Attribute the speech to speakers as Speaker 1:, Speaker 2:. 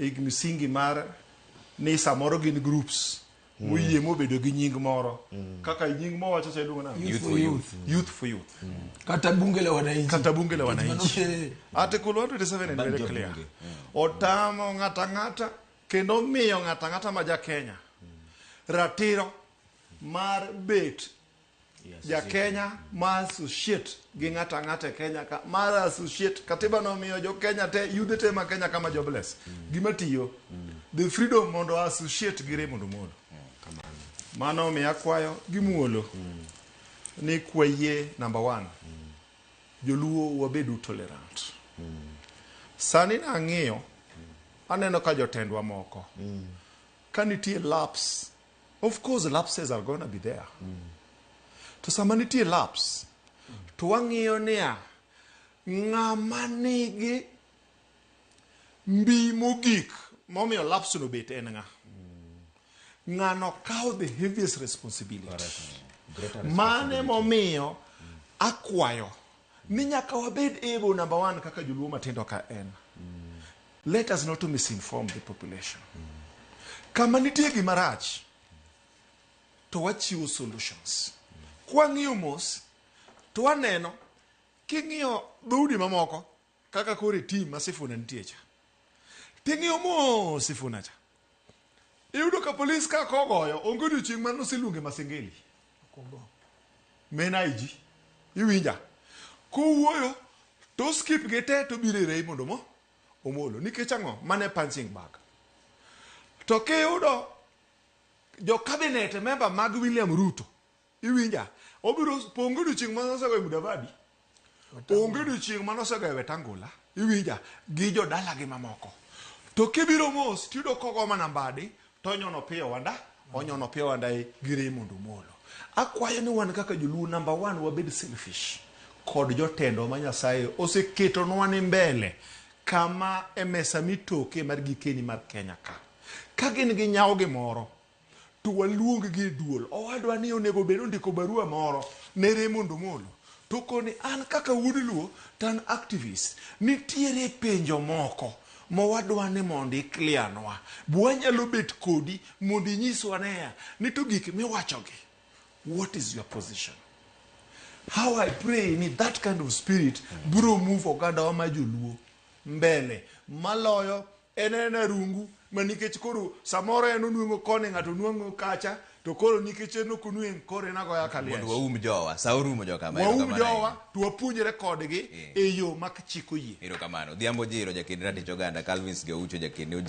Speaker 1: e msingi mar ni samoro gin groups mm. moyie mobedo gi nying moro mm. kaka nying mo wacho sailuongo na youth for youth youth for youth mm. kata bunge la
Speaker 2: wananchi kata bunge la wananchi
Speaker 1: article 127 and very clear otamo ngata ngata kendo miyo ngata ngata ma ja Kenya ratiro mar bet Yes, ja Ezekiel. Kenya ma associate gi ng'ato ang'ata e Kenya ka mar associate katiba no miyo jo Kenya te yudhe te ma Kenya kama jobless gima tiyo the freedom mondo a associate gi Raymond Omolo Kamano. mano omiyo akwayo gi muolo ni kwayie number one joluo wabedu tolerant sani nang'iyo aneno ka jotendwa moko ka nitie laps Of course lapses are gonna be there. To sama nitie laps to wang'iyo niya ng'ama nigi mbi mogik momiyo laps no bet en ng'a. Ng'ano kawo the heaviest responsibility. Greater Mane momiyo akwayo ni nyaka wabed able number one kaka joluo matindo ka en. Let us not misinform the population. Kama nitie gima rach to wachiwo solutions. Kwang'iyo mos to waneno king'iyo dhoudi mamoko kaka kore tim ma Sifuna nitie cha. Ting'iyo mos Sifuna cha. Iyudo ka polis ka kogoyo onge odiochieng' ma noseluonge Masengeli. Men IG. Iwinja. Kowuoyo to skip gi te to biro irei mondo mo omolo. Nikech ang'o? Mane punching bag. To kiyudo jo cabinet member mag William Ruto Iwinja? Obiro pongo odiochieng' ma nosegoye Mudavadi, onge odiochieng' ma nosegoye Wetangula, iwinja, gi jodalagi mamoko. To kibiro mos tiyudo kogo mana mbadi, to onyono piyo wanda, onyono piyo wanda e gi Raymond Omolo. Akwayo ni wan kaka joluo namba one wabed selfish kod jotendwa ma Nyasaye oseketonwa ni mbele kama e mesa mitoke mar gikeni mar Kenya ka. Ka gin gi nyawo gimoro, to waluonggi e duol. Owadwa ni onego bed ondiko barua moro ne Raymond Omolo to koni an kaka wuod Luo to an activist. Nitiere penjo moko ma wadwa ni mondo iklianwa. Be wanyalo bet kodi mondo inyiswa nea ni to gik miwachogi what is your position? How I pray ni that kind of spirit biro move ogandawa ma joluo mbele maloyo En aena rungu ma nikech koro samoro en onweng'o koni ng'ato onweng'o kacha to koro nikech en ok onweng' koro en agoya ka Mondo liech. waum jowa. Sa
Speaker 3: orumo jokama. Waum Erokamano jowa ahinya. to
Speaker 1: wapuonjre kodgi Eh. e
Speaker 3: yo ma chik oyie.
Speaker 1: Erokamano. Odhiambo
Speaker 3: Ojiro, jakin
Speaker 1: ratich
Speaker 3: oganda, Calvins Geucho,
Speaker 1: jakin
Speaker 3: Ojero.